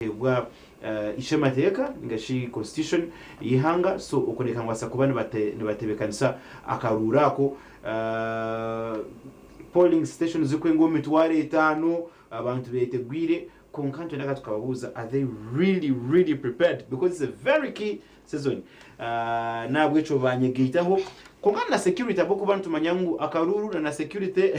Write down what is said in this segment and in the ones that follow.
kuheebwa ishe mateeka ninga shi constitution y'eihanga so okwo ndeeka nibabaasa kuba nibatebekanisa akaruuru ako polling station zirikwenga omu mitwaro etaano abantu betegwire kwonka nitwenda ka tukababuuza are they really really prepared because it's a very key season ahh nahabwekyo banyegaitaho kwonka na security ahabwokuba nitumanya ngu akaruuru na na security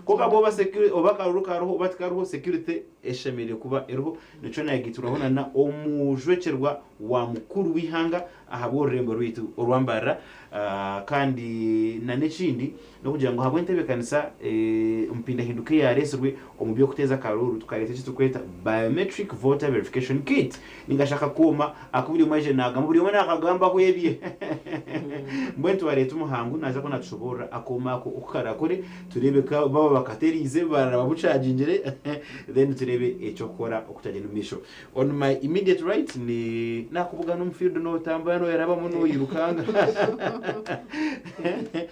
kwonka bwoba security oba akaruuru kariho oba tikariho security eshemereire kuba eriho nikyo nayegaiturwaho na na omujwekyerwa wa mukuru w'eihanga ahabw'orurembo rwaitu orwambarira ahh kandi na n'ekindi N'okugira ngu ahabw'entebeekanisa empindahinduka eyaareetsirwe omu by'okuteeza akaruuru, tukareeta eki turikweta Biometric Voter Verification Kit ninga shi akakooma aku buri omwe aizire naagamba, buri omwe naakagambaho ebye. Mbwenu tubareeta omu hangu naaza ku naatushoboorora akooma ako oku karakore, tureebe ku baaba bakateeriize, baaraba bucagingire, then tureebe eky'okukora oku kyagyenda omu maisho. On my immediate right ni naakubugana omu field nootambura nooyerabamu nooyirukanga.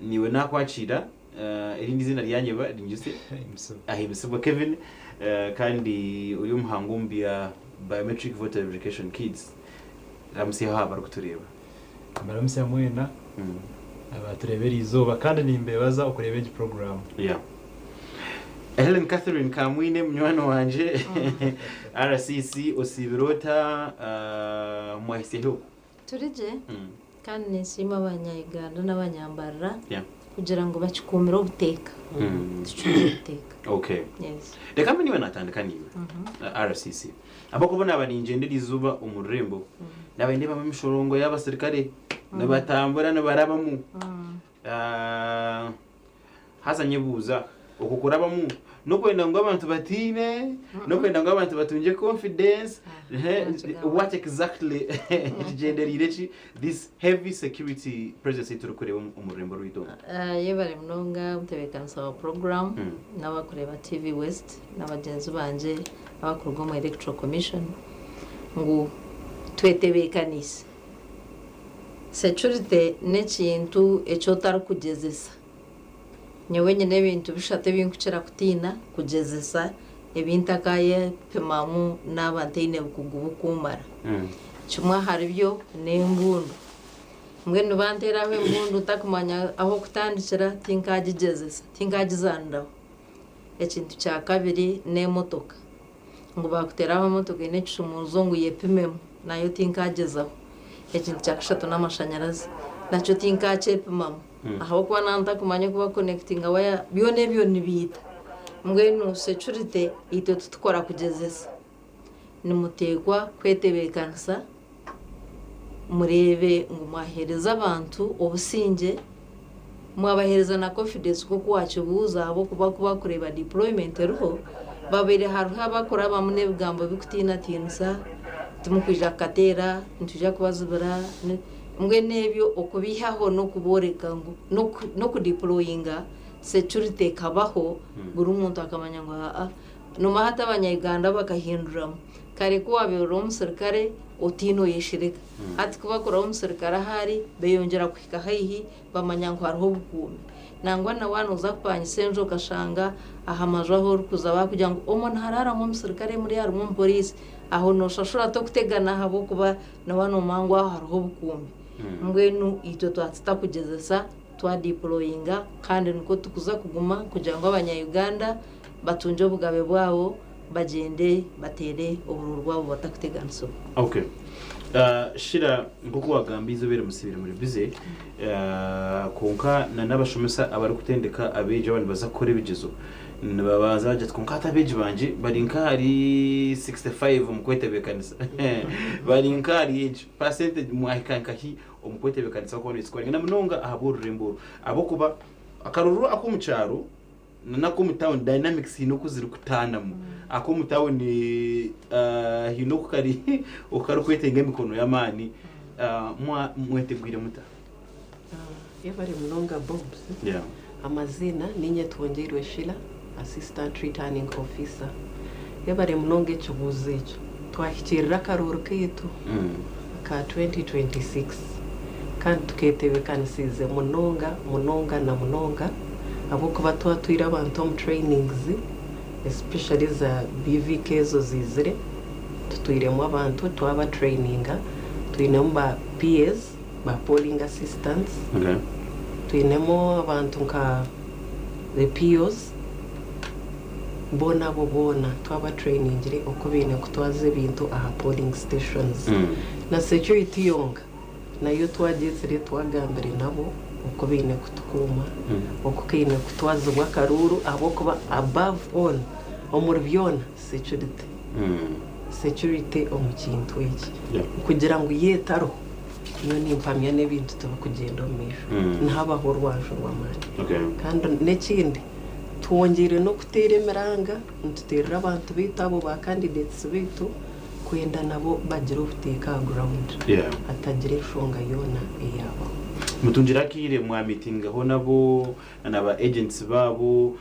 Niiwe naakwakiira, erindi ziina ryanye ba Rinjuse Ahimbisibwe Kevin kandi ori omuhangu omu bya Biometric Voter Verification Kids. Ramutsyaho aha barikutureeba. Mbaramutsya mwena abaatureeba eri izooba kandi nimbeebaza okureeba egi puroguraamu. Yeah. Hellen Catherine Kamwiine munywani wangye, RCC, osiibire ota? Mwahitsya hi oku? Turi gye kandi ninsiima abanya Uganda n'abanyambarara kugira ngu bakikuumire obuteeka. Tucungire obuteeka. Okay. Yes. Reka mbe niwe natandika naiwe. RCC. Ahabw'okuba naaba ningyenda erizooba omu rurembo, naaba nindeebamu emishorongo y'abasirikare nibatambura nibarabamu. Haza nyebuuza, okwo kurabamu n'okwenda ngu abantu batiine? N'okwenda ngu abantu batungye confidence? What exactly kigyendereire ki this heavy security presence ei turikureeba omu rurembo rwaitu omu? Yebare munonga omutebeekanisa wa puroguramu, n'abarikureeba TV West, na bagyenzi bangye abarikuruga omu Electoral Commission, ngu twetebeekaniise. Securite n'ekintu eki otarikugyezesa. Nyowe nyine ebintu bishatu ebi nkukira kutiina kugyezesa ebi ntakayepimamu naaba ntaine bukugu bukuumara. Kimwe ahari byo n'embundu. Mbwenu banteeraho embundu ntakumanya ah'okutandikira tinkagigyezesa, tinkagizaaniraho. Ekintu kya kabiri n'emotoka. ngu baakuteeraho emotoka eine ekishumuuruzo ngu yepimemu, nayo tinkagyezaho. Ekintu kya kashatu n'amashanyarazi, nakyo tinkakyepimamu ahabw'okuba naaba ntakumanya oku bakukonekitinga waya, byona ebyo nibiita. Mbwenu securite itwe titukora kugyezesa, nimuteekwa kwetebeekanisa Mureebe ngu mwaheereza abantu obusingye, mwabaheereza na confidence nk'oku waakibuuza ahabw'okuba ku barikureeba deployment eriho, babaire hariho abarikurabamu n'ebigambo birikutiinatiinisa, timurikwija kukateera, nitwija kubazibira, mbwenu ebyo okubeihaho n'okubooreka ngu n'okudiployinga security ekabaho buri muntu akamanya ngu haa Nomaha ati abanyayuganda bakahinduramu? Kare ku waabaire ori omusirikare otiine oyeshirika. Hati ku bakuraho omusirikare ahu ari, beeyongyera kuhika haihi bamanya ngu hariho obukuumi. Nangwa na waaba nooza kupangisa enju okashanga aha maju ahu orikuza baakugira ngu omwo niharaaramu omusirikare murya harimu omupooriisi, aho nooshashura ota okutegana ahabw'okuba na waaba noomanya ngu aho hariho obukuumi? Mbwenu itwe twatuta kugyezesa Twadipuloyinga kandi nikwo tukuza kuguma kugira ngu abanya Uganda batungye obugabe bwabo bagyende bateere obururu bwabo batakuteganisibwa. Ok Shira nkoku wagambye eizoba eri musibire muri busy kwonka na nabashomesa abari kutendeka abeegi abandi baza kukora ebigyezo nibabanza bagira ati kwonka hati abeegi bangye bari nka ahari 65 omu kwetebekanisa bari nka ahari egi percentage mwahika nkahi omu kwetebeekanisa kwona nikikora engano munonga ahabw'orurembo oru ahabw'okuba akaruru ak'omu kyaro na n'ak'omu tawuni dynamics haine oku zirikutaanamu. Ak'omu tawuni haine oku kari oku karikwetenga emikono y'amaani. Mwetegwire muta? Yebare munonga Bobs. Amaziina, Niinye Twongyeirwe Sheila, Assistant Returning Officer. Yebare munonga ekibuuzo ekyo. Twahikirira akaroori kaitu aka 2026 kandi tuketebekanisiize munonga munonga na munonga ahabw'okuba twatwire abantu omu trainings especially eza BVK ezo ziizire, tutwiremu abantu twabatraininga, twinemu ba PAs ba polling assistants, twinemu abantu nka the POs, boona abo boona twaba trainingire oku baine kutwaza ebintu aha polling stations. Na security yoonka nayo twagyetsire twagambire nabo oku baine kutukuuma, oku kaine kutwazibwa akaruuru ahabw'okuba above all omuri byoona, securite omu kintu eki kugira ngu yo etariho nyowe nimpamya n'ebintu tibikugyenda omu maisho nihabaho orwanju rw'amaani kandi n'ekindi twongyeire n'okuteera emiranga nituteerera abantu baitu abo ba candidates baitu kwenda nabo bagire obuteeka aha ground hatagira enshonga yoona eyaabaho. Mutungire akaire mwa meetingaho nabo na ba agents baabo?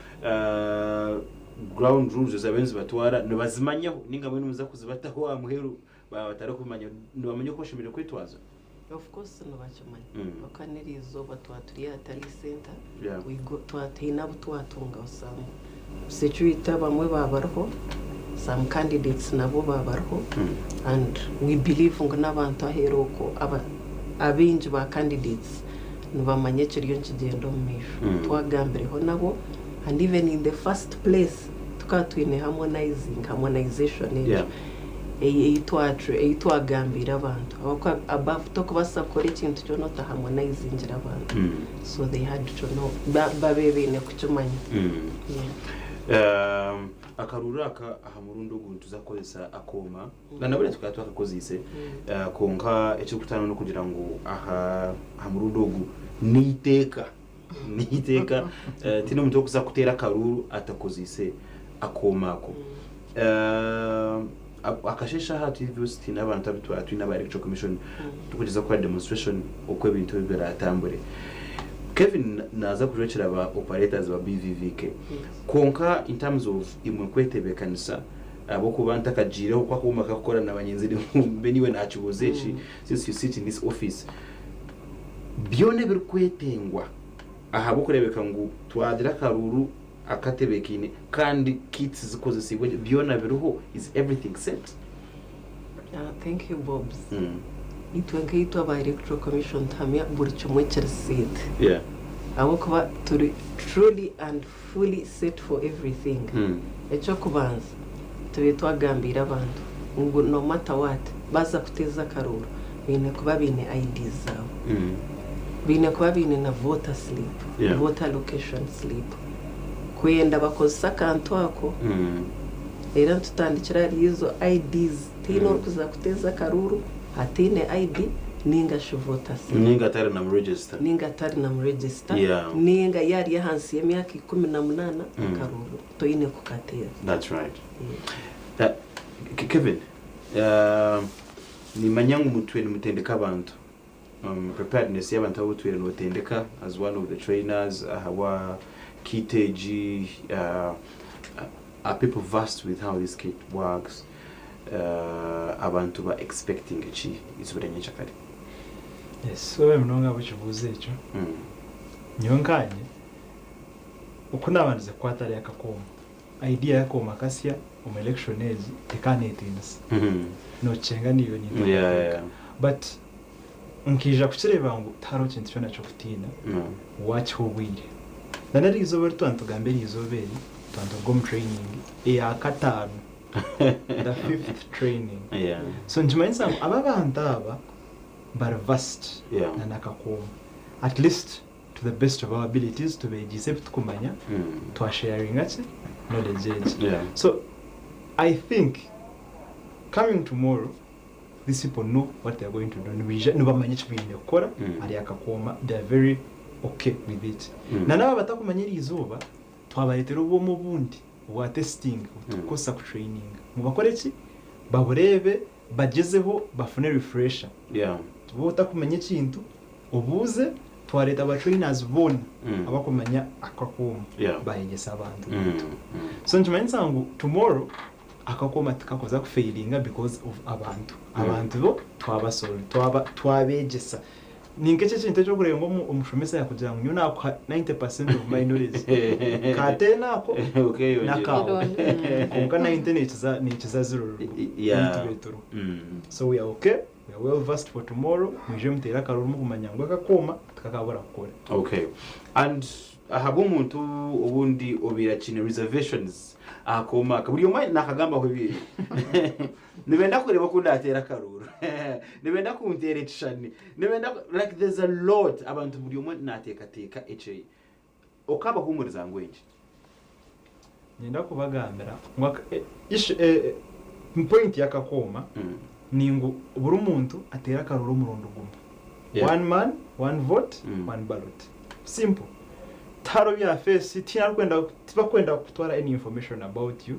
ground rules ezi abariyo nizibatwara nibazimanyaho ninga mbwenu nimuza kuzibataho aha muheru baaba batarikubimanya? Nibamanya oku bashemereire kwetwaza? Of course nibakimanya ahabw'okuba n'erizooba twaba turi aha Talii Centre twaba twine abu twatunga some security abamwe baaba bariho, some candidates nabo baaba bariho and we believe ngu n'abantu aheeru okwo abaingi ba candidates Nibamanya ekiriyo nikigyenda omu maisho. Twagambireho nabo and even in the first place tukaba twine harmonizing, harmonization egyo eyi eyi twa eyi twagambiire abantu ahabw'okuba above tokubaasa kukora ekintu kyona ota harmonizingire abantu. So they had to know ba babe baine kukimanya. Yeah. Akaruuru aka aha murundi ogu nituza kukoresa akooma. Nana bariya tukaba twakakoziise kwonka ekirikutaano nokugira ngu aha aha murundi ogu neiteeka neiteeka tihaine omuntu orikuza kuteera akaruuru atakoziise akooma ako. Akasheeshe aha twiine ebyosi twiine abantu abu twaba twiine aba electoral commission turikugyeza kukora demonstration oku ebintu ebi biratambure. Kevin naaza kujwekyera ba operators ba BVVK kwonka in terms of imwe kwetebeekanisa, Ahabw'okuba ntakagyireho ku akooma kakukora na banyenzi reero mbwenu iwe naakibuuza eki since you sit in this office. Byona ebirikwetengwa ahabw'okureebeka ngu twagira akaruuru akatebeekaine kandi kits zikozesiibwe gye byona biriho? Is everything set? Thank you Bobs. Itwe nkaitwe aba Electoral Commission tuhamya buri kimwe kiri set ahabw'okuba turi truly and fully set for everything ekyokubanza tube twagambiire abantu ngu no matter what baza kuteeza akarooro baine kuba baine IDs zaabo baine kuba baine na voter slip voter location slip kwenda bakozese akantu ako era nitutandikira ahari izo IDs. Tihaine orikuza kuteeza akaruuru ataine ID ninga shi Voters Card. Ninga atari namu register. Ninga atari namu register. Yeah. Ninga ya ari ahansi y'emyaka ikumi na munana akaruuru toine kukateeza. That's right. Yeah. Kevin, nimanya ngu mutwe nimutendeka abantu. preparedness y'abantu abu otwire notendeka as one of the trainers ahabwa kit egi are people versed with how this kit works? abantu ba expectinga ki izooba rya nyenkyakare? Sorry munonga ahabw'ekibuuzo ekyo. Nyowe nkanye oku nabandize kukwata hariya akakoombe Idea yakooma kasya omu election egi ekaba netinisa nokishenga niyo ninteekateeka but nkaija kukireeba ngu tihariho kintu kyona kyokutiina wakiha obwire nana erizooba eri twanitugamba erizooba eri twanituruga omu training eya kataano the fifth training so nikimanyisa ngu aba abantu aba bari versed nana kakooma atleast to the best of our abilities tubeegyeise ebitukumanya twa sharinga ki knowledge egi so I think coming tomorrow these people know what they are going to do nibaija nibamanya eki baine kukora ahari akakooma they are very okay with it na naaba batakumanya eri izooba twabareetera obwoma obundi obwa testing obu turikukoresa ku traininga ngu bakore ki babureebe bagyezeho bafune refresher waaba otakumanya ekintu obuuze twareeta ba trainers boona abakumanya ako akooma bayegyese abantu baitu so nikimanyisa ngu tomorrow ako akooma tikakuza kufailinga because of abantu abantu bo twaba solve twaba twabegyesa Ni nk'eki ekintu eki orikureeba ngu omushomesa yaakugira ngu nyowe naakuha ninety percent of my knowledge. Ka ten ako n'akaawe. Kwonka ninety neekiza neekiza zero ruruma. Yeah. Beitu beeturwa. So we are okay, we are well versed for tomorrow. Mwije muteere akarooro murikumanya ngu aka akooma tikakaabura kukora. Okay. And ahabw'omuntu obundi obaire akiine reservations aha kooma aka. Buri omwe naakagambaho ebye. Nibenda kureeba ku ndaateera akaruuru. Nibenda kunteera ekishushani. Nibenda ku, like there's a lot abantu buri omwe naateekateeka eki Okaabahumuriza ngu enki? Niinyenda kubagambira ngu aka, e, ishu, e, e, point y'akakooma ni ngu buri muntu ateere akaruuru omurundi gumwe. Yeah. One man, one vote, Mm. one ballot. Simple. Tihariho bya face, tihaine arikwenda, tibakwenda kutwara any information about you.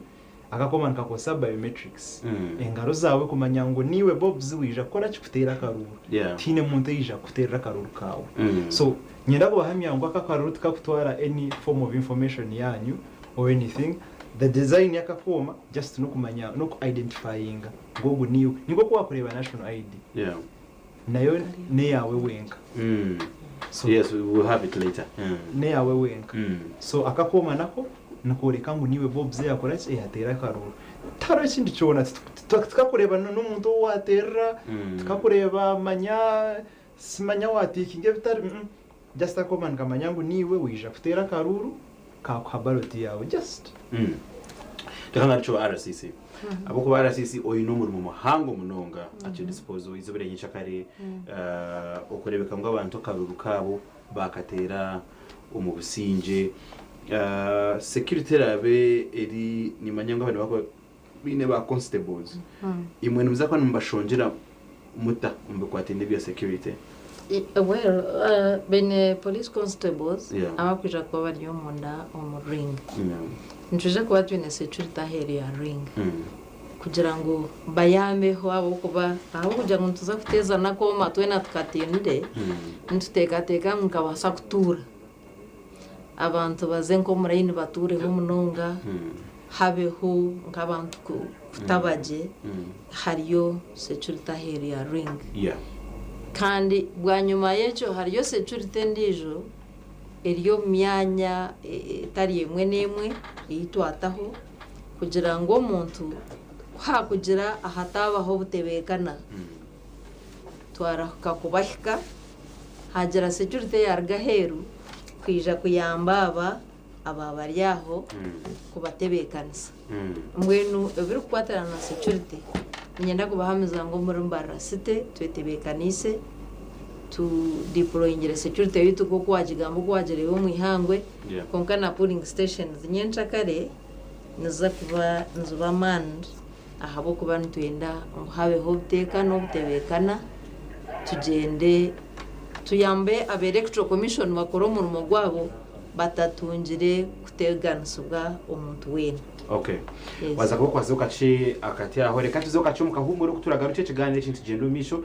Akakoba nikakozesa biometrics. Engaro zaawe kumanya ngu niiwe Bobz waija kukora ki? Kuteera akaruuru. Tihaine muntu oija kukuteerera akaruuru kaawe. So niinyenda kubahamya ngu aka akaruuru tikakutwara any form of information yaanyu or anything. The design y'aka kooma just n'okumanya, n'oku identifyinga ngu ogu niiwe. Ni nk'oku waakureeba National ID. Nayo n'eyaawe wenka. So. Yes, we will have it later. N'eyaawe wenka. So akakooma nako nikooreka ngu niiwe Bobs eyakora ki? Eyateera akarooro. Tihariho ekindi kyona. Tikakureeba n'omuntu ou waateerera, tikakureeba manya, simanya waatiikinga ebitari. Just akoba nikamanya ngu niiwe waija kuteera akaruuru kaakuha ballot yaawe just. Reka ngarukye owa RCC ahabw'okuba RCC oine omurimo muhango munonga actually this was eizooba erya nyekyakare okureebeka ngu abantu akaruuru kaabo baakateera omu busingye security eraabe eri nimanya ngu aba nibakoresa Baine ba constables imwe nimuza kuba nimubashongyera muta omu bikwataine nebya security? Well baine police constables abakwija kuba bari omunda omu ring. Nitwija kuba twine security aheeru ya ring kugira ngu bayambeho ahabw'okuba ahabw'okugira ngu nituza kuteeza n'akooma twena tukatainire nituteekateeka ngu nikabaasa kutuura. abantu baze nk'omu layini batuureho munonga, habeho nk'abantu kutaba gye, hariyo securite aheeru ya Ring. Kandi bwanyima y'ekyo hariyo securite endiijo eri omu myanya etari emwe n'emwe ei twataho kugira ngu omuntu ku haakugira ahataabaho obutebeekana, Twarahuka kubahika, haagira securite yaaruga aheeru kwija kuyamba aba abaabari aho kubatebeekanisa. Mbwenu ebirikukwatirana na securite, niinyenda kubahamiza ngu omuri Mbarara City twetebeekaniise, tudipuloyingire securite yaitu nk'oku waagigamba oku waagireeba omu ihangwe, kwonka na pooling stations nyencakare niziza kuba niziba manned. ahabw'okuba nitwenda ngu habeho obuteeka n'obutebeekana, tugyende tuyambe aba Electoral Commission bakore omurimo gwabo batatungire kuteganisibwa omuntu weena. Ok. Yes. Waaza kuba okwatsire okakye akati aho. Reka tuze okakye omu kahumure oku turagarukye ekigaaniro eki nitugyenda omu maisho.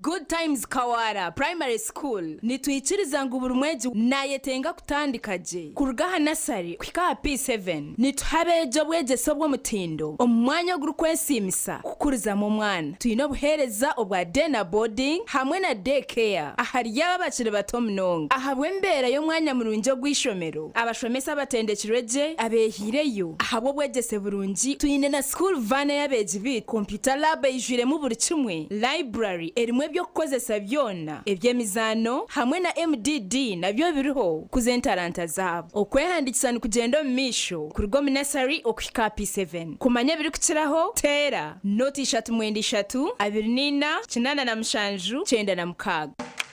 Good Times Kawaara Primary School, Nitwikiriza ngu buri mwegi nayetenga kutandika gye kuruga aha nasari kuhika aha P7. Nituha abeegi obwegyese obw'omutindo omu mwanya ogurikwesiimisa kukurizamu omwana. Twine obuheereza obwa day na boarding hamwe na day care ahari abo abakiri bato munonga. Ahabw'embeera y'omwanya murungi ogu eishomero, abashomesa abatendekirwe gye abeehaireyo ahabw'obwegyese burungi. Twine na school van eyi abeegi baitu, computer lab eijwiremu buri kimwe, Library erimu eby'okukozesa byona eby'emizaano hamwe na MDD nabyo biriho kukuza entaranta zaabo. Okwehandiikisa nikugyenda omu maisho kuruga omu Nursery okuhika aha P7. Kumanya ebirikukiraho, teera, noti ishatu mwenda ishatu, abiri na ina, kinaana na mushanju, kyenda na mukaaga.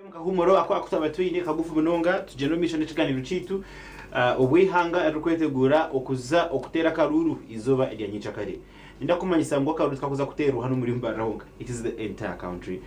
Omukahumuro ako akutwaba twine kagufu munonga, tugyenda omu maisho n'ekiganiro kyaitu obweihanga ririkwetegura okuza okuteera akaruuru eizooba erya nyikyakare. Ninda kumanyisa ngu akaruru tikakuza kuterwa hanu omuri Mbarara honka, it is the entire country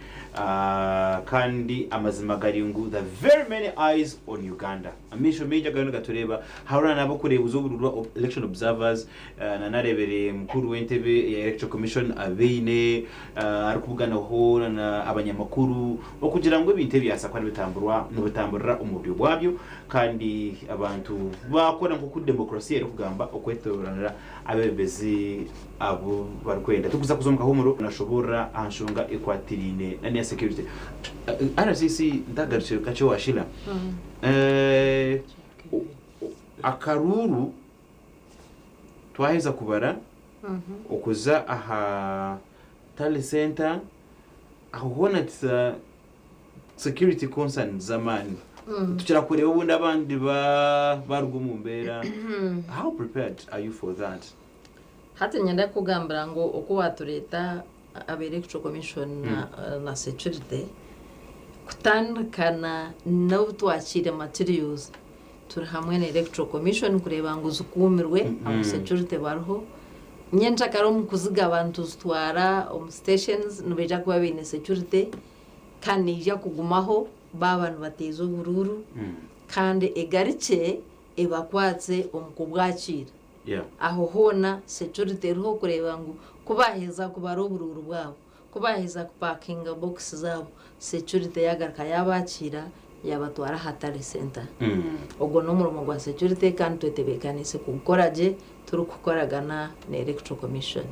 kandi amazima gari ngu the very many eyes on Uganda, amaisho maingi agariyo nigatureba, hariho nana abokurebuza obururu ba election observers, nana arebere mukuru wentebe eya electoral commission abeine arikubuganaho nana abanyamakuru okugira ngu ebintu ebyasa kuba nibitamburwa nibitamburira omu buryo bwabyo kandi abantu bakora nkoku democracy erikugamba okwetoranira Abebembezi abu barikwenda turikuza kuza omu kahumuro. Nashoboorora aha nshonga ekwatiraine n'eya securite. RCC ntaagarukire kakye owa Sheila. Akaruuru twaheza kubara okuza aha Tally Centre, aho hoona security concerns z'amaani tukira kureeba obundi abandi baruga omu mbeera how prepared are you for that? Hati niinyenda kukugambira ngu oku waatureeta aba Electoral Commission na security kutandika n'obu twakiire materials, Turi hamwe na Electoral Commission kureeba ngu zikuumirwe abu security bariho. Nyenkyakare omu kuzigaba nituzitwara omu stations nibaija kuba baine security kandi neija kugumaho baaba nibateeza oburuuru kandi egarukye ebakwatse omu kubwakiira. Aho hoona security eriho kureeba ngu ku baaheza kubara oburuuru bwabo Ku baaheza kupaakinga bookisi zaabo, securite yaagaruka yaabakiira yaabatwara aha Tally Centre. Ogwo n'omurimo gwa securite kandi twetebeekaniise kugukora gye turikukoragana na Electoral Commission.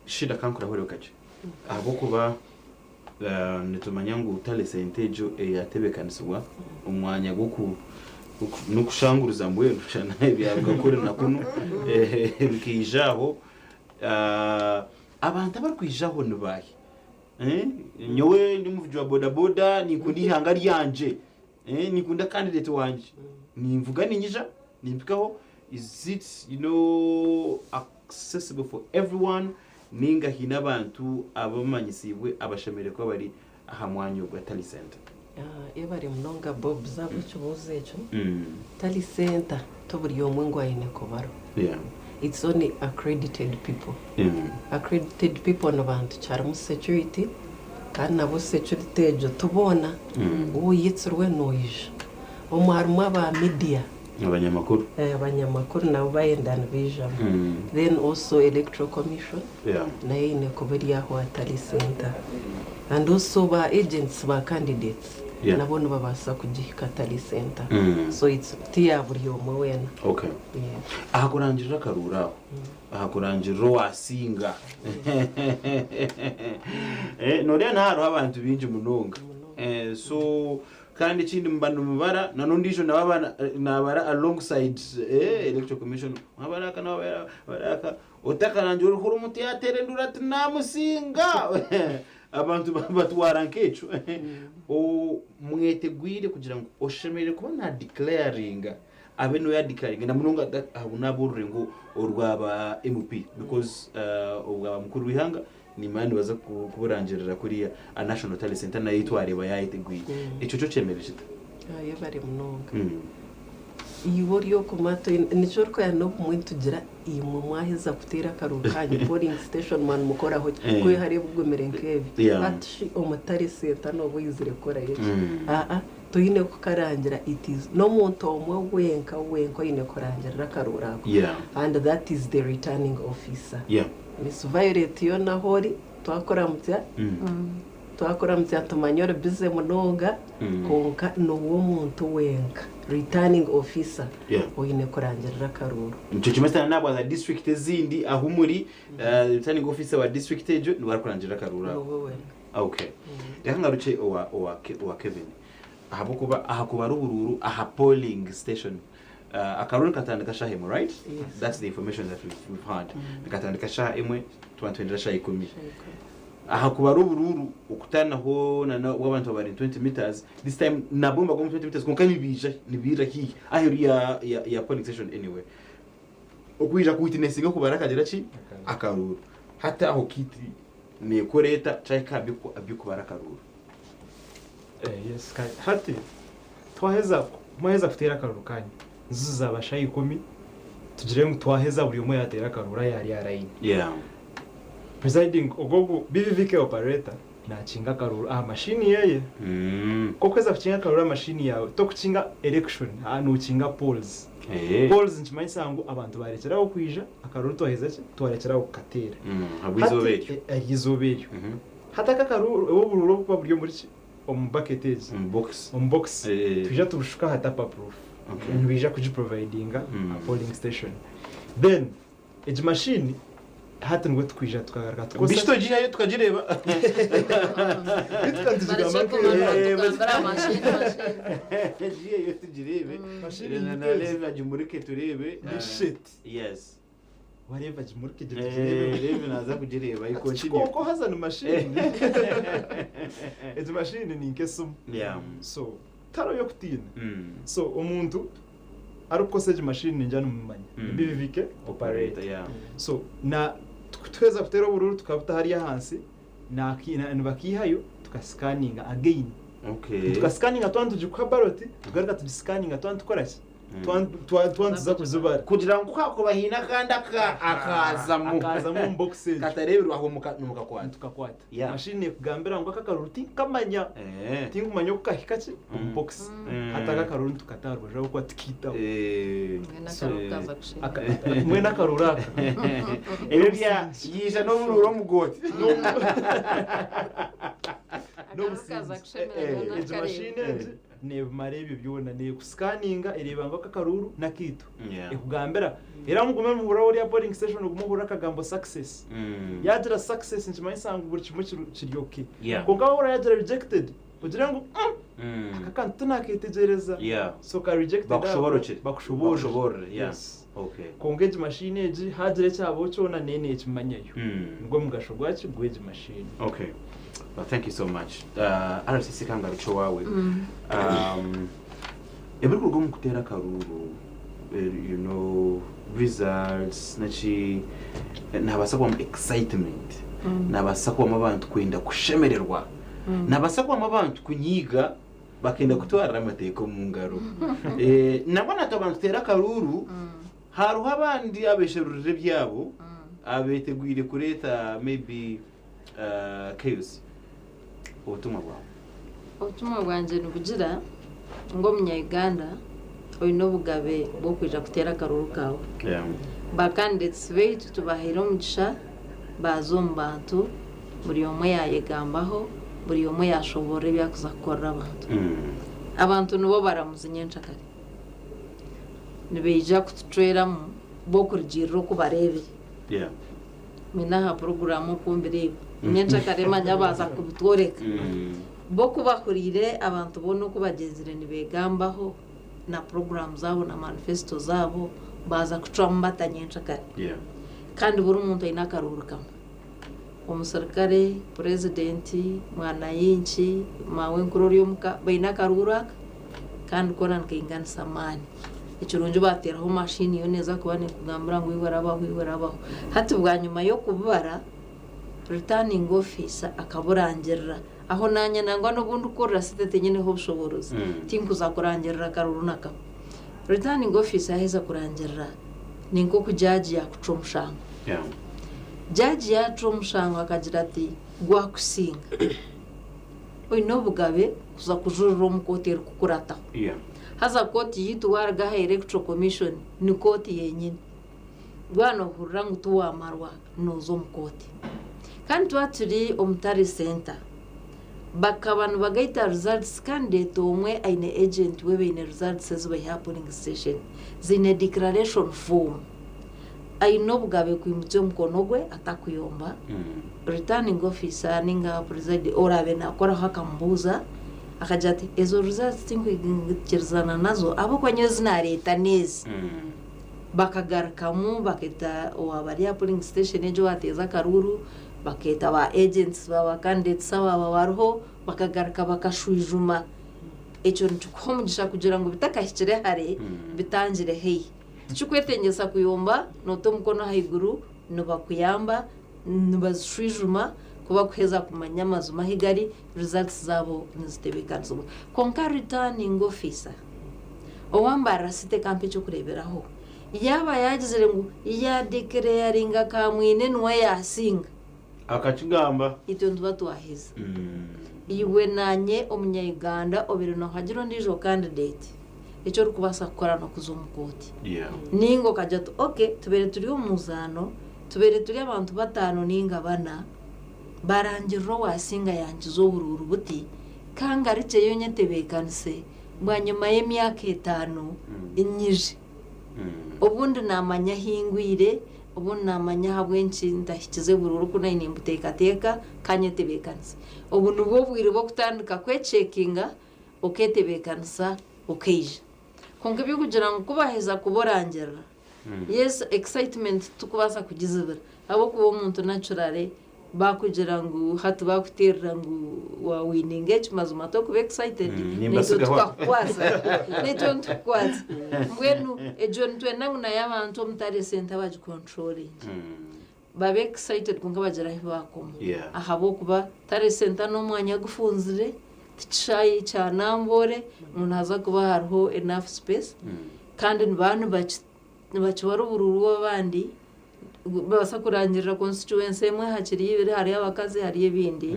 Shida ka nkurahurire kakye ahabw'okuba nitumanya ngu Tally Centre egyo eyatebeekanisibwa omu mwanya gw'oku n'okushanguruza mbwenu kushushana ebyaruga kuri na kunu bikaija aho. Abantu abarikwija aho ni baahi? Nyowe ndi omuvugi wa bodaboda, ninkunda eihanga ryangye, ninkunda kandideeti wangye. Ninvuga niinyija, nimpikaho. Is it you know accessible for everyone ninga haine abantu abamanyisiibwe abashemereire kuba bari aha mwanya ogwa Tally Centre. Yebare munonga Bobs ahabw'ekibuuzo ekyo. Tally Centre ti buri omwe ngu aine kubarwa. It's only accredited people. Accredited people ni bantu ki? Harimu security kandi nabwo security egyo ti boona. Woyetsirwe noija. Omwe harimu aba media. Abanyamakuru. Eh abanyamakuru nabo bayenda nibaijamu. Then also electoral commission nayo eine kuba eri aho aha Tally Centre. And also ba agents ba candidates nabo nibabaasa kugihika Tally Centre. So it's ti ya buri omwe weena. Okay. Yes. Aha kurangirira akaruuru aho, aha kurangirira owaasinga. Nooreeba naha hariho abantu baingi munonga. So Kandi ekindi muba nimubara na n'ondiijo nawe aba nabara alongside eh electoral commission waba ari aka nawe aba ari aka otakarangira oriho ori omuntu yateera enduuru ati namusinga abantu batwara nk'ekyo omwetegwire kugira ngu oshemereire kuba na declaringa abe noya declaringa na munonga abu n'ab'orurengo orwa ba MP because obwa bamukuru w'eihanga nimanya nibaza kuburangirira kuriya a National Talent Centre nayo yitwareba yayetegwire. Ekyo kyo kyemere kita? Yebare munonga. Iwe ori oku mato nikyo orikureeba n'obumwe nitugira imwe mwaheza kuteera akaruru kanyu polling station mwa nimukoraho ki? Ku hariho ebigumire nk'ebyo hati shi omu Tale Centre nooba oyizire kukorayo ki? Aa toine kukarangira it is n'omuntu omwe wenka wenka oine kurangirira akaruuru ako and that is the returning officer. Miss Violet yoona ahu ori twakuramukya, twakuramukya nitumanya ori busy munonga kwonka noowe omuntu wenka returning officer Yeah. oine kurangirira akaruuru. Nikyo kimwe sitaane naabwaza district ezindi ahu muri eh, returning officer wa district egyo niwe arikurangirira akaruuru ako. Noowe wenka. Okay. Reka ngarukye owa owa Ke- owa Kevin. Ahabw'okuba aha kubara oburuuru aha polling station Akaroho nikatandika shaha emwe right that's the information that we've had nikatandika shaha emwe tuba nituhendera shaha ikumi ahakuba ari oburuuru okutanaho nana wabantu abari 20 meters this time nabo nibago omu 20 meters kwonka nibaija nibairira hihi aheru ya ya polling station anyway okwija ku witnessinga kubara akagira ki akaruuru hati aho kiti nekora eta chai ka abyokubara akaruuru Yes kare. Hati twaheza mwaheza kuteera akaruru kanyu zizi zaaba shaaha ikumi tugire ngu twaheza buri omwe yaateera akaruru aye ari aha layini. Presiding ogwo ogu BVVK operator naakinga akaruru aha mashiini yeeye. Nk'oku orikuheza kukinga akaruru aha mashiini yaawe tokukinga erection haa nookinga polls. Polls nikimanyisa ngu abantu baarekyeraho kwija akaruru twaheza ki twarekyeraho kukateera. Hati ery'eizooba eryo. Hati aka kariho oburuuru obukuba buri omuri ki? Omu bucket egi. Omu box. Omu box. Twija tubushuka aha tap up roof. Okay. Nibaija kugi providinga aha polling station. Then egi machine hati nibwe tukwija tukagaruka tukozesa. Bishito gihayo tukagireeba. Beitu tukaba nitugigamba nka eri hanu. Eeh, baitu Tugambira machine, machine. Giheyo tugireebe. Machine niyo egi. Naareeba gimurike tureebe. Ni shit. Yes. wareeba gye muri kugira Eh, ogireebe reebe naaza kugireeba you continue. kikooko haza ni mashiini egi mashiini ni nk'esimu Yeah. so tari oy'okutiina Mm. so omuntu arikukoresa egi mashiini ningira nimumanya Mm. ebibi bike Operator, opareta yeah. so na tuku- tuheza kuteera obururu tukabuta hariya ahansi naki- na- nibakiihayo tukasikaninga again Okay. tukasikaninga twaba nitugikuha baroti tugaruka tugisikaninga twaba nitukoraki twandiza kuzibara. Kugira ngu haakuba haine akandi akaazamu katareeberwaho nimukakwata. Mashini neekugambira ngu aka akaruru tinkumanya, tinkumanya oku kahika ki omu bokisi. Hati aka akaruru nitukata aha rubaju ahabw'okuba tikaitaho. Mbwenu akaruru aka. Ebyo byaija n'oburuuru omu gooti. N'obusinge. Egi mashini egi. Nebimara ebyo byona neku scanninga ereeba ngu aka akaruuru nakaitu. Ekugambira era mugume muhurira ori aha polling station ogume ohurire akagambo success. Yagira success nikimanyisa ngu buri kimwe kiri ok. Kwonka waahurira yaagira rejected ogire ngu umm aka akantu tinaketegyereza. So ka rejected ako bakushoboorore. Kwonka egi mashiini egi haagira ekyabaho kyona nayo neekimanyayo. Nigwo mugasho gwaki? Gw'egi mashiini. Okay. Well, thank you so much. Uh, RCC kangarukye owaawe. Um, ebirikuruga omu kuteera akaruuru, eh, you know, results, naki, eh, nabaasa kubamu excitement. Nabaasa kubamu abantu kwenda kushemererwa. Nabaasa kubamu abantu kunyiiga Bakenda kutwarira amateeka omu ngaro. Nabwo nakaba nituteera akaruuru hariho abandi abesherurira ebyabo abetegwire kureeta maybe chaos. Obutumwa bwawe? Obutumwa bwangye nibugira ngu omunya Uganda oyine obugabe bwokwija kuteera akaruuru kaawe. Ba candidates baitu tubahaire omugisha baaza omu bantu, buri omwe yaayegambaho, buri omwe yaashoboorora ebi arikuza kukorera abantu. Abantu nibo baramuzi nyencakare. Nibaija kutucweramu bo kurugiirira oku bareebire. Mbwenu aha puroguraamu oku mbireeba, nyencakare manya baaza kubitworeka. Bo ku bahuriire abantu boona oku bagyenzire nibeegambaho, na puroguramu zaabo na manifesito zaabo baaza kucwamu bata nyenkyakare kandi buri muntu aine akaruuru kamwe, omusirikare, purezidenti, mwananchi, maawenkuru ori omu ka, baine akaruuru aka kandi koona nikainganisa amaani. Ekirungi baateeraho maashiini yoona eeza kuba neekugambira ngu iwe rabaho iwe rabaho. Hati bwanyima y'okubibara, returning officer akaburangirira. Aho naanye nangwa n'obu ndikukorera sente tinyineho bushoboorozi, tinkuza kurangirira karuru na kamwe. Returning Officer yaaheza kurangirira ni nk'oku jaaji yaakucwa omushango. Jaaji yaacuwa omushango akagira ati, Gwakusinga. Oine obugabe kuza kujurira omu kooti erikukurataho. Haza kooti yaitu waaruga aha erikucwa komishoni, ni kooti yenyini. Bwaba nohurira ngu tiwamarwa noza omu kooti. Kandi twaba turi omu Tare Centre, bakaba nibagaita results candidate omwe aine agent we baine results ezibaiha aha polling station ziine declaration form. Aine obugabe kwimukya omukono gwe atakuyomba, returning officer ninga presiding orabe nakoraho akamubuuza akagira ati ezo results tinkwikirizana nazo ahabwokuba nyowe ezi nareta nezi. Bakagarukamu bakeeta owa bari aha polling station egyo owaateeza akaruuru, bakeeta ba agents ba ba candidates abaaba bariho, bakagaruka bakashwijuma. Ekyo nikikuha omugisha kugira ngu bitakahikire hare, bitangire haihi. Tikikwetengyesa kuyomba noota omukono ahaiguru, nibakuyamba nibazishwijuma ku bakuheza kumanya amazima ahi gari, results zaabo nizitebeekanizibwa. Kwonka Returning Officer owambarira site kampa eky'okureeberaho, yaaba yaagizire ngu ya declaringa ka mwine niwe yaasinga, Akakigamba. itwe nituba twaheza. Iwe naanye omunya-Uganda obeire noohagira ondiijo candidate. eki orikubaasa kukora n'okuza omu kooti. Nainga okagira oti, Okay, tubaire turi omu muzaano, tubaire turi abantu bataano nainga bana, baarangirira owaasinga yaankiza oburuuru buti, ka ngarukyeyo nyetebeekanise bwanyima y'emyaka etaano nyije. Obundi naamanya ahi ngwire, obundi naamanya ahabw'enki ntahikize buruuru ku naine nimbuteekateeka, ka nyetebeekanise. Obu nibwo bwire bw'okutandika kwechekinga. oketebeekanisa okaija. Kwonka eby'okugira ngu ku baaheza kuba orangirira, yes excitement titukubaasa kugizibira ahabw'okuba omuntu naturally baakugira ngu hati baakuteerera ngu waawininga eki mazima t'okuba excited, naitwe tukakukwatsa naitwe nitukukwatsa. Mbwenu egyo nitwenda ngu nayo abantu omutare esente bagicontrollinge. Baba excited kwonka bagira ahi baakoma Yeah. ahabw'okuba tari senta n'omwanya gufunzire, ti kishaayi kya Namboole ngu nihaza kuba hariho enough space kandi nibaba nibaki- nibakiba ari oburuuru bw'abandi nibabaasa kurangirira constituency emwe hakiri ibiri hariyo abakazi hariyo ebindi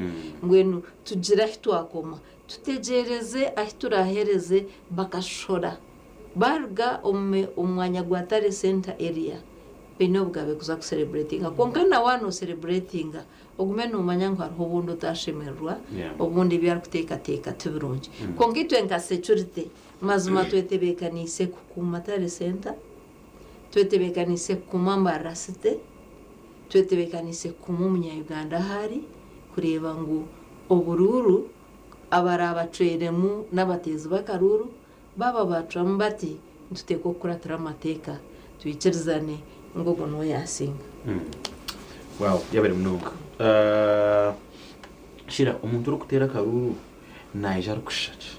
mbwenu tugire ahi twakoma tutegyeereze ahi turaahereze bakashora. Baaruga omu mwanya gwa Tare Center Area baine obugabe kuza ku celebratinga kwonka na waaba no celebratinga ogume nomanya ngu hariho obundi otashemererwa obundi ebi arikuteekateeka ti birungi kwonka itwe nka securite mazima twetebekaniise kukuuma Tare Center, twetebekaniise kukuuma Mbarara City, twetebekaniise kukuuma omunya Uganda ahu ari kureeba ngu oburuuru abaraabatweiremu n'abateezi b'akaruuru Baaba baaturamu bati, nituteekwa kukuratira amateeka, twikirizane ngu ogwo niwe yaasinga. Wow yabaire munonga. Shira omuntu orikuteera akaruuru naija arikushisha ki?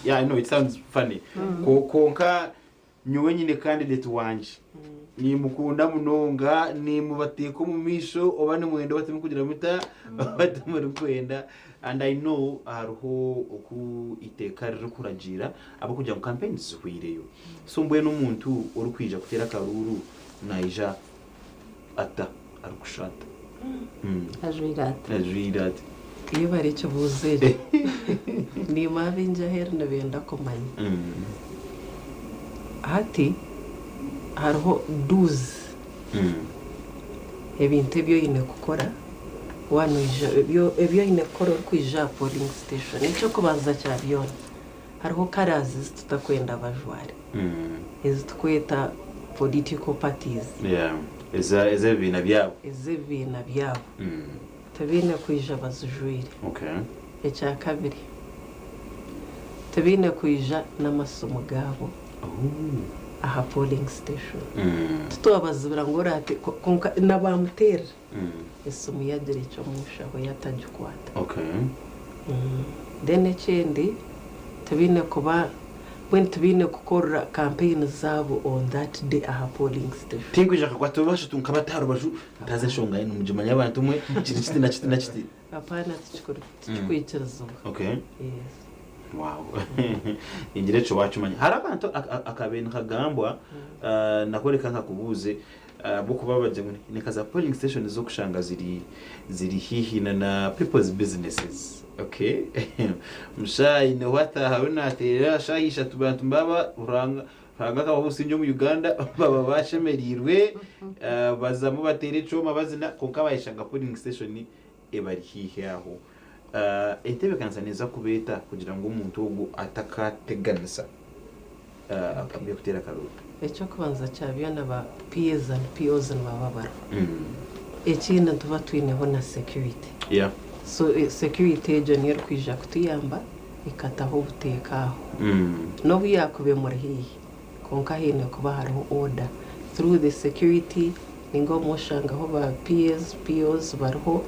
Yeah I know it sounds funny kwonka Nyowe nyine kandideti wangye. Nimukunda munonga, nimubateeka omu maisho oba nimwenda oba timukugira muta, oba timurikwenda. And I know hariho oku iteeka ririkuragiira ahabw'okugira ngu campaigns zihweireyo. So mbwenu omuntu orikwija kuteera akaruuru naija. ata? Arikushusha ata? Ajwaire ata? Ajwaire ata? Iyo bari ekibuuzo eri niimwe abaingi aheeru nibenda kumanya. Hati hariho duuzi ebintu ebi oine kukora waanoija, ebi oine kukora orikwija aha polling station. Eky'okubanza kya byona, Hariho colours ezi tutakwenda bajware ezi tukweta political parties. Yeah ezi ebibiina byabo. Ezi ebibiina byabo tibaine kwija bazijwire. Okay. Ekya kabiri tibaine kwija n'amasimu gaabo aha polling station. Titwabazibira ngu orate kwonka na ba muterra. esimu yagira eki omunshaho ye atagikwata then ekindi tibaine kuba mbwenu tibaine kukorera campaign zaabo on that day aha polling station. Tinkwija nkakwata oba bashatu nkabata aha rubaju ntazi enshonga yena nimugimanya abantu omwe kiri kiti nakiti nakiti. Apaana tikikwikirizibwa. Okay yes. Wow ningira ekyo wakimanya hariho akantu akabaire nikagambwa nakworeka nkakubuuze Ahabw'okuba abagira ngu ni nka za polling stations z'okushanga ziri ziri haihi na na people's businesses. Okay. Mushaayi niho ataahayo naateerera shaaha ishatu bantu mbaaba Ruhanga Ruhanga akabaha obusingye omu Uganda baba baashemereirwe. Bazamu bateera ekyoma bazina kwonka baayeshanga polling station ebari haihi aho. Entebeekanisa neeza kubeeta kugira ngu omuntu ogwo atakaateganisa by'okuteera akaroori. Eky'okubanza kya byona ba PAs and POs nibaba bariho. Ekindi nituba twineho na security. So security egyo niyo erikwija kutuyamba ekataho obuteeka aho n'obu yaakuba emuri haihi. Kwonka haine kuba hariho order through the security ninga obumwe oshangaho ba PAs, POs bariho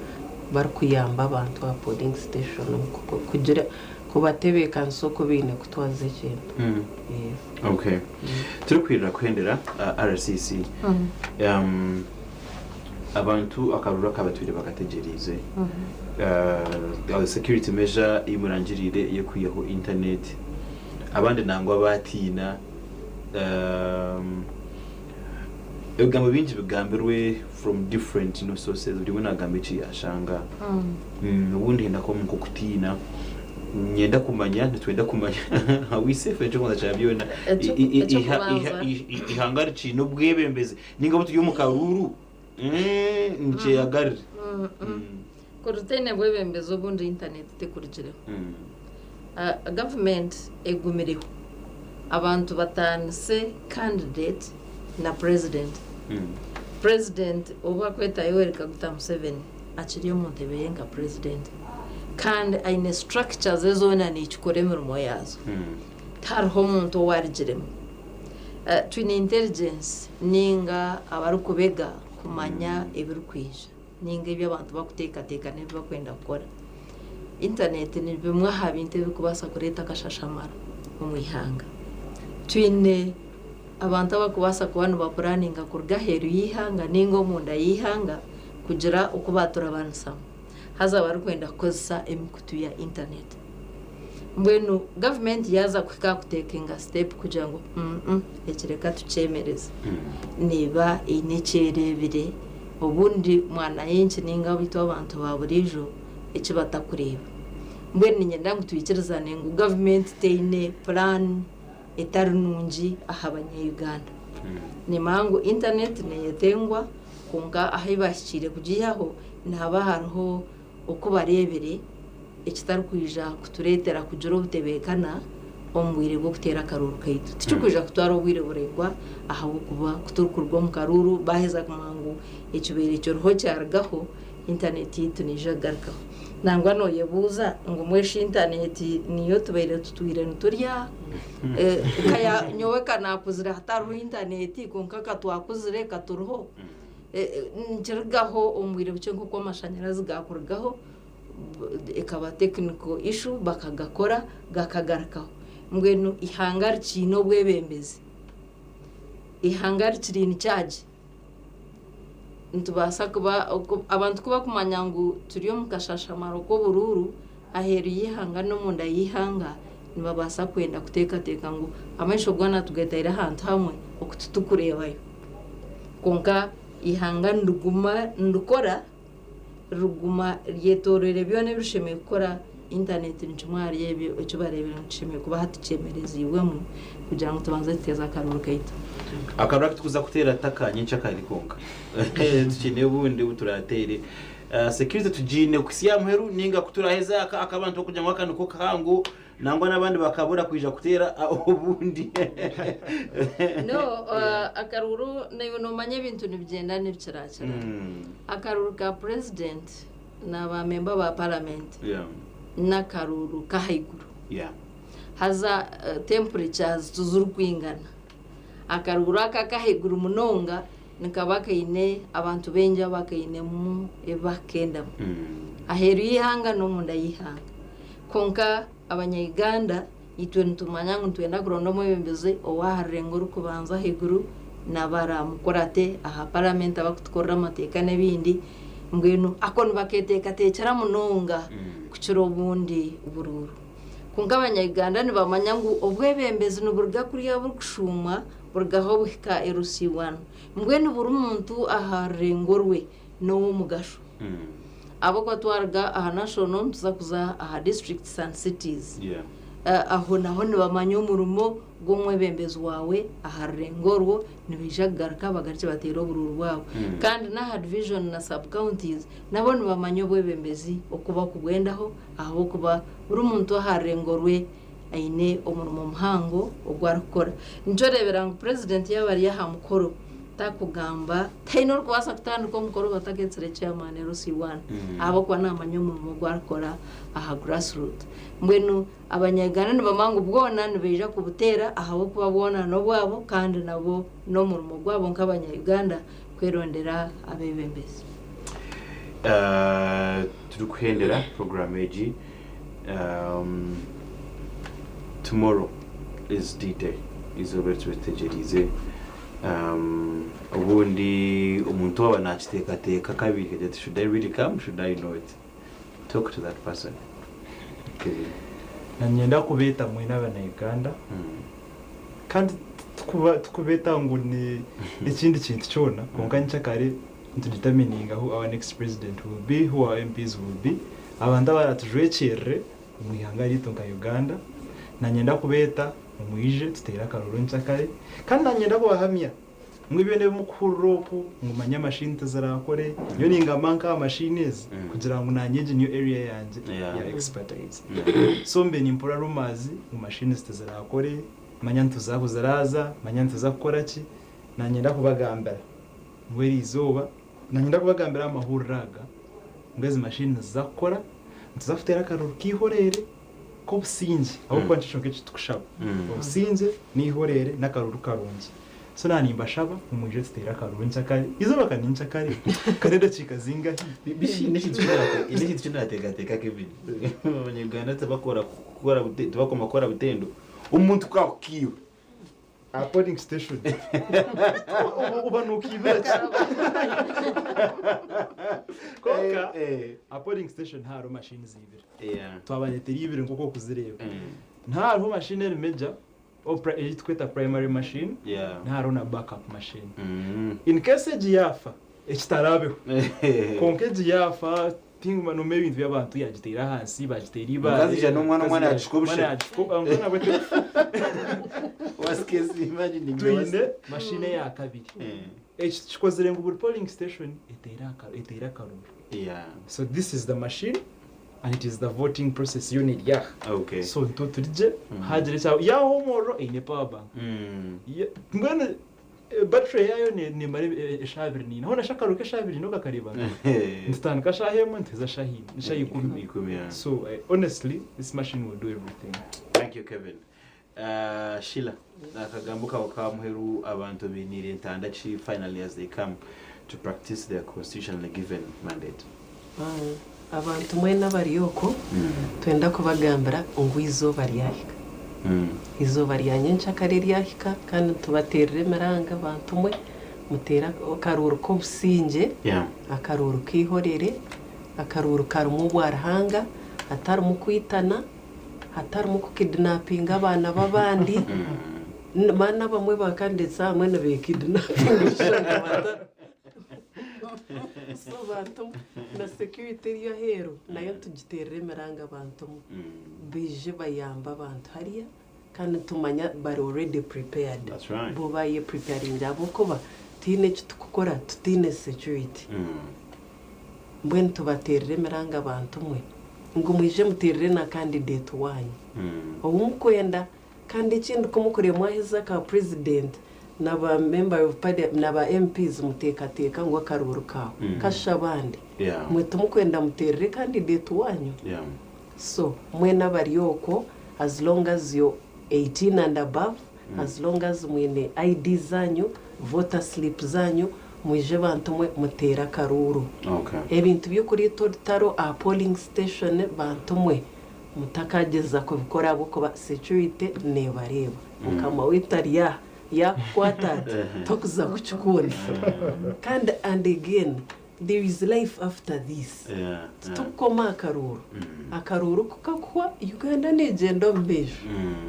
barikuyamba abantu aha polling station omu kugira kubatebeekanisa oku baine kutwaza ekintu. Yes. Okay. Turikwirira kuhendera aha RCC. Abantu akaruru akabatwire bakategyeriize. Security measure ei murangiriire ey'okwihaho internet. abandi nangwa baatiina. Ebigambo bingi bigambirwe from different you know sources buri omwe nagamba eki yashanga. Obundi hine akamu nk'okutiina ninyenda kumanya nitwenda kumanya are we safe ekyokubanza kya byona Ekyo- i- i- i- iha- iha- ekyokubanza. i- i- ihanga rikiine obwebembezi ninga obuturi omu karuuru nikyeyagarire. Ku rutaine bwebembezi obundi intaneeti tekurikireho. Gavumenti egumireho abantu bataanise kandideeti na purezidenti. Purezidenti obu akweta Yoweri Kaguta Museveni akiri omu ntebe ye nka purezidenti kandi aine siturakikya ze zoona niikikora emirimo yaazo. Tihariho omuntu ou arigiremu. Twine interigensi nainga abarikubega kumanya ebirikwija. ninga ebi abantu bakuteekateeka n'ebi bakwenda kukora. Intaneeti ni bimwe aha bintu ebirikubaasa kureeta akashashamaro omu ihanga. Twine abantu abarikubaasa kuba nibapuraaninga kuruga aheeru y'eihanga ninga omunda y'eihanga kugira oku baaturabanisamu, haza barikwenda kukozesa emikutu ya intaneeti. Mbwenu gavumenti yaaza kuhika aha kutekinga sitepu kugira ngu mm eki reka tukyemereze, neeba eine eki ereebire obundi mwananchi nainga abaitu abantu ba buriijo eki batakureeba. Mbwenu niinyenda ngu twikirizane ngu gavumenti teine puraani etari nungi aha Banyayuganda. Nimanya ngu intaneeti neeyetengwa, kwonka ahu ei baahikiire kugiihaho nihaba hariho oku bareebire ekitarikwija kutureetera kugira obutebeekana omu bwire bw'okuteera akaruuru kaitu. Tikirikwija kutwara obwire buraingwa ahabw'okuba ku turikuruga omu karuuru baaheza kumanya ngu ekibaire ekiriho kyarugaho, intaneeti yaitu neija kugarukaho. Nangwa nooyebuuza ngu mbwenu shi intaneeti niyo tubaire tutwire niturya? Nyowe ka naakuzire hatariho intaneeti, kwonka ka twakuzire, ka turiho. Nikirugaho omu bwire bukye nk'oku amashanyarazi gaakurugaho, ekaba technical issue bakagakora gakagarukaho. Mbwenu eihanga rikiine obwebembezi, eihanga rikiri in charge, nitubaasa kuba, abantu ku barikumanya ngu turi omu kashashamaro k'oburuuru, aheeru y'eihanga n'omunda y'eihanga nibabaasa kwenda kuteekateeka ngu amaisho goona tugataire ahantu hamwe oku titurikureebayo. Kwonka eihanga niriguma nirikora, riguma ryetoroire byona ebi rishemereire kukora. Intaneeti ni kimwe ahari ebyo eki bareebire ngu kishemereire kuba hati kyemereziibwemu kugira ngu tubanze tuteeze akaroori kaitu. Akaroori aku turikuza kuteera ti aka nyenkyakare kwonka. Tukine obundi obu turaateere. Security tugiine kuhitsya amuheru ninga kuturaheza aka akabantu bakugira ngu aka niko kahango nangwa nabandi bakabura kwija kuteera obundi. No akaruru naiwe nomanya ebintu nibigyenda nibikirakira. Akaruru ka president na ba member ba parliament nakaruru kahaiguru. Haza temperature zitu zirikwingana. Akaruguru ako ak'ahaiguru munonga nikaba kaine abantu baingi abakainemu ebi bakukendamu aheeru y'eihanga n'omunda y'eihanga. Kwonka abanya Uganda itwe nitumanya ngu nitwenda kuronda omwebembezi ow'aha rurengo orikubanza ahaiguru nabo araamukurate aha paramenti abakutukorera amateeka n'ebindi mbwenu ako nibaketeekateekyera munonga kukira obundi buruuru. Kwonka Abanya-Uganda nibamanya ngu obwebembezi niburuga kuriya burikushuumwa burugaho buhika erusiibwano. Mbwenu buri muntu aha rurengo rwe n'ow'omugasho. Ahabw'okuba twaruga aha National nituza kuza aha Districts and Cities, aho naho nibamanya omurimo Gwe omwebembezi waawe aha rurengo orwo nibaija kugaruka bagarukye bateere oburuuru bwabo. Kandi n'aha Division na Sub Counties nabo nibamanya obwebembezi oku bakubwendaho ahabw'okuba buri muntu aha rurengo rwe aine omurimo muhango ogu arikukora. Nikyo oreebera ngu Purezidenti yaaba ari aha mukoro tarikugamba, taine orikubaasa kutandika omukoro bataketsire Chairman LC1 ahabw'okuba naamanya omurimo ogu arikukora aha grassroot. Mbwenu. Abanyagano nibamanya ngu bwona nibaija kubuteera ahabw'okuba bwona n'obwabo kandi nabwo n'omurimo gwabo nk'abanya-Uganda kwerondera abeebembezi. Turikuhendera puroguraamu egi. Tomorrow is D-Day, eizooba eri tube tutegyereize. Obundi omuntu waaba naakiteekateeka kabiri, should I really come, should I not? Talk to that person okiriire. Nanyenda kubeta mwena abana Uganda Kandi tikubeta ngu ni ekindi kintu kyona kwonka nikya kare nitu determininga who our next president will be who our MPs will be abantu abaratujwekyerere omu ihanga ryaitu nka Uganda nanyenda kubeta omwije tutere akaroro nikya kare Kandi nanyenda kubahamya Mbwenu byona ebi mukuhurira oku ngu manya machine tizirakore, nyowe ningamba nkaha machine ezi kugira ngu nanye egi niyo area yangye ya expertise. So mbe nimpurira rumours ngu machines tizirakore, manya nituza ahu ziraza, manya nituza kukora ki. Nanyenda kubagambira ngu eri izooba, nanyenda kubagambira aha mahurira aga ngu ezi machine niziza kukora, nituza kutera akaruru keihoreere. Ku obusingye ahabw'okuba nikyo kyonka eki tukushaba. Obusingye, n'eihoreere, n'akaruru karungi. So na nimbashaba ngu mwije tuteere akaruru nkya kare. Eizooba ka ninkya kare? Ka n'edakiika zingahi? Bibi n'ekintu n'ekintu n'ekintu ki naateekateeka Kevin. Abanyayuganda tibakora kukora bute tibakoma kukora butendo omuntu ku akukiirwe. aha polling station Oba- oba nukiibira ki konka Eh, eh. aha polling station hariho mashini ziibire Yeah. twabareetera ibiri nk'oku okuzireeba Mm. niho hariho mashini erimu egya oh, pri- ei turikweta primary machine Yeah. niho hariho na backup machine Mm. in case egi yaafa ekitarabeho konka egi yaafa Tinguma noma ebintu byabantu yagitera ahansi bagitera ibaale omukazi ija nomwana omwana yagishuka obushe twine machine eyakabiri eki tukikozire ngu buri polling station etere akaruru so this is the machine and it is the voting process yona eri aha so nitwe turigye hagira ekyabaho yaba home order eine power bank mbwenu. Battery yaayo neemara eshaaha abiri naina. Hoona shi akaruhuuko eshaaha abiri naina okakareebanga? Nitutandika shaaha emwe nituheeza shaaha ina, shaaha ikumi. So honestly this machine will do everything. Thank you Kevin. Sheila, akagambo kaawe ka muheru abantu bainiire ntanda ki finally as they come to practice their constitutionally given mandate? Abantu mwena abari okwo twenda kubagambira ngu eizooba ryahika. Eizooba rya nyenkya kare ryahika kandi nitubateerera emiranga, bantu mwe, muteere akaruuru k'obusingye, akaruuru k'eihorere, akaruuru karimu obwaruhanga, hatarimu kwitana, hatarimu kukidinapinga abaana b'abandi, mana abamwe bakandeetsa ahamwe nibeekidinapinga. So bantu na security eri aheeru nayo nitugiteerera emiranga bantu baije bayambe abantu hariya kandi nitumanya bari already prepared bo bayepreparinga ahabw'okuba tihaine eki turikukora tutaine security. Mbwenu tubateerera emiranga bantu mwe ngu mwije muteerere na candidate waanyu ou murikwenda. Kandi ekindi ku mukuriyo mwahiza aka president na ba member of parliament na ba MPs mutekateka ngu akaruuru ka kashisha abandi Yeah. mwe timukwenda muterere candidate wanyu Yeah. so mwena abari okwo as long as you're 18 and above as long as mwine ID zanyu voter slip zanyu mwije bantu mwe mutere akaruuru Okay. ebintu by'okurita orutaro aha polling station bantu mwe Mutakagyeza kubikora ahabw'okuba securite neebareeba. Mukama waitu ari aha, yaakukwata ati, tokuza kukikunda. Kandi and again, there is life after this. Titukukoma aha karuuru. Akaruuru ku kakuhwa, Uganda neegyenda omu beijo.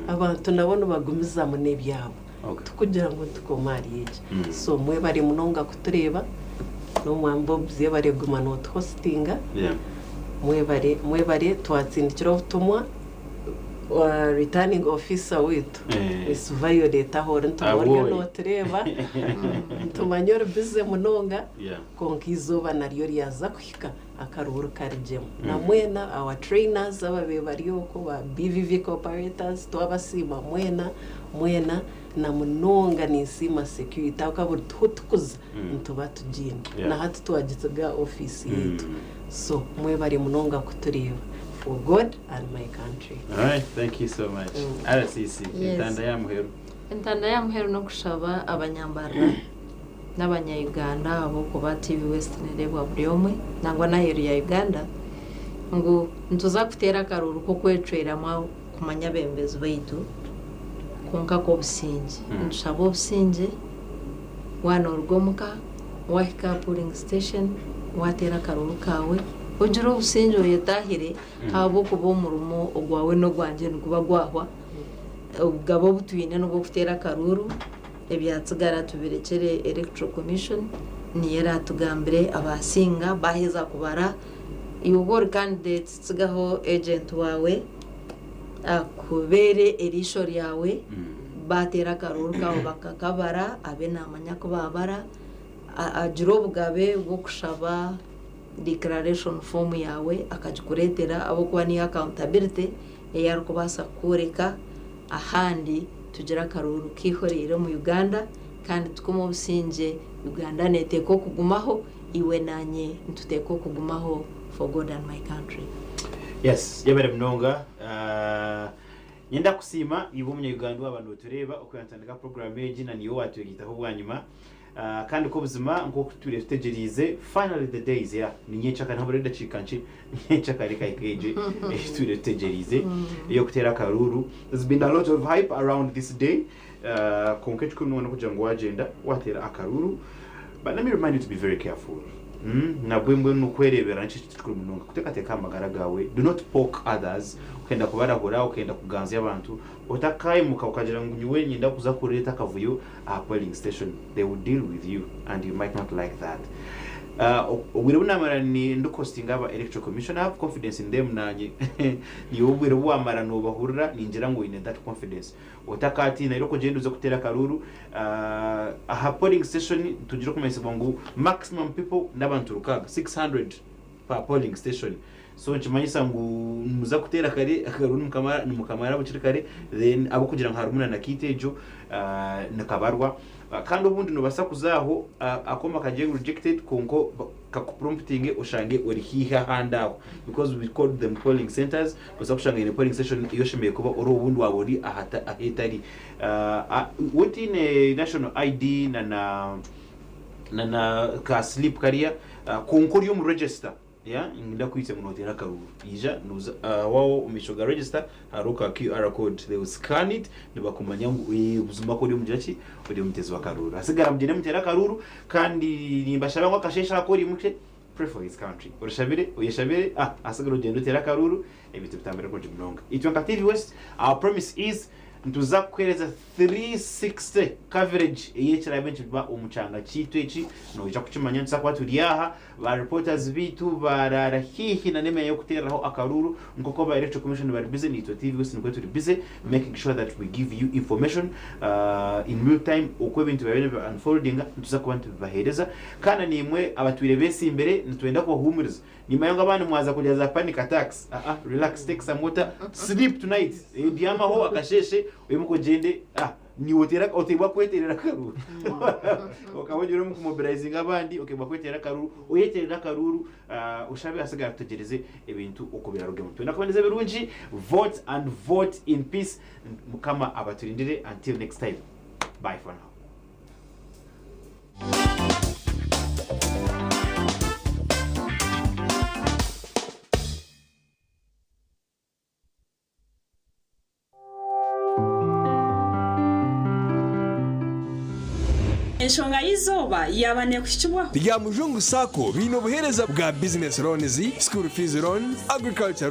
Abantu nabo nibagumizamu n'ebyabo. Kugira ngu ntukomu ahari egi. So mwebare munonga kutureeba. N'omwami Bob yebare kuguma notu hostinga. Mwebare mwebare twatsindikira obutumwa. Returning officer witu Miss Violet ahu ori nituba oriyo notureeba. Nitumanya ori busy munonga. Kwonka eizooba naryo ryaza kuhika. akaruuru karigyemu na mwena our trainers ababaire bari okwo ba BVVK operators twabasiima mwena mwena na munonga ninsiima security ahabw'okuba buri tuhu tukuza nituba tugiine na hati twagisiga office yaitu so mwebare munonga kutureeba for God and my country. Alright thank you so much. RCC Yes. entanda y'aha muheru. Entanda y'aha muheru n'okushaba abanyambarira. nabanya Uganda abo kuba TV West nerebwa buri omwe nangwa naheru ya Uganda ngu nituza kutera akaruru kokwecweramu kumanya abembezi baitu kwonka kobusingye nitushaba obusingye wana oruga omuka wahika aha polling station watera akaruru kawe ogire obusingye oyetahire ahabwokuba omurimo ogwawe nogwangye niguba gwahwa obugabe obutwine nobwokutera akaruru. ebyatsigara tubirekyere Electoral Commission niyo eratugambire abasinga baheza kubara iwe obu ori candidate tsigaho agent wawe akubere erisho ryawe batera akaruru kawe bakakabara abe namanya ku babara agira obugabe bwokushaba declaration form yawe akagikuretera ahabwokuba niyo accountability eyi arikubasa kukworeka. Ahandi tugire akaruuru keihoreire omu Uganda kandi tukume obusingye Uganda neteeka okugumaho iwe nanye nituteeka okugumaho for God and my country. Yes yebare munonga nyenda kusiima iwe omunya Uganda owaba notureeba oku yantandika program egi na niiwe owatweritaho bwanyima. Kandi kobuzima nkoku tutwire tutegyereize finally the day is here ni nyekyaka nihaburaho edakiika nkye nyekyaka reka eka egye eyitwire tutegyereize eyokuteera akaruuru there's been alot of hype around this day kwonka ekikuru nyowe nokugira ngu wagyenda wateera akaruuru but let me remind you to be very careful nabwe mbwenu kwereberera nikyo kintu kikuru munonga kutekateka ahamagara gaawe do not poke others okenda kubarahura okenda kuganzya abantu otakaimuka okagira ngu nyowe niinyenda kuza kureeta akavuyo aha polling station they will deal with you and you might not like that obwire obu namara ndi costinga aba electoral commission I have confidence in them nanye nyowe obwire obu wamara nobahurira ningira ngu oyine that confidence otakatiina rero kugyenda oze kuteera akaruuru aha polling station nitugire okumanyisibwa ngu maximum people n'abantu rukaaga 600. pa polling station so nikimanyisa ngu nimuza kuteera kare akagaru nimukamara bukiri kare then ahabw'okugira ngu harimu na nakiti egyo nikabarwa kandi obundi nobasa kuza aho akooma kagye rejected kwonka kakupromputinge oshange ori haihi ahandi aho because we called them polling centers nobasa kushanga haine polling station ei oshemereire kuba ori obundi waba ori ahetari wotaine national ID na na ka sleep kariya Kwonka ori omu register yeah ninda kwitse ngu noteera akaruuru ija noza ahawaho omu maisho ga register hariho ka QR code they will scan it nibakumanya ngu eeh buzima kori omugira ki ori omutezi w'akaruuru hatsigara mugyende muteere akaruuru kandi nimbashaba ngu akasheeshe aha kori mukye pray for this country orishabire oyeshabire ah hatsigara ogyende oteere akaruuru ebintu bitambire kurungi munonga itwe nka TV west our promise is nituza kukuheereza 360 coverage eyekiraabe nikiba omu kyanga kyaitu eki noija kukimanya nituza kuba turi aha, ba reporters baitu baraara haihi na n'emyanya y'okuteereraho akaruuru nk'oku aba Electoral Commission bari busy naitwe TV West nikwo turi busy making sure that we give you information in real time oku ebintu byabaire nibi unfoldinga nituza kuba nitubibaheereza kandi na naimwe abatwire betsimbire nitwenda kubahuumuriza Nyima yangu abandi mwaza kurya za panic attacks ah ah relax take some water sleep tonight eh byamaho akasheshe oyimuke ogyende ah niiwe oteera oteebwa kweteerera akaruuru okaba ogira omu ku mobilizinga abandi okeebwa kweteera akaruuru oyeteerere akaruuru ah oshabe atsigara atwegyereze ebintu oku birarugemu twena kuboneza ebirungi vote and vote in peace mukama abaturindire until next time bye for now. Enshonga y'eizooba yaaba neekuhikibwaho? Rya Mujungu Sacco baine obuheereza bwa Business Loans, School Fees Loan, Agriculture Loan,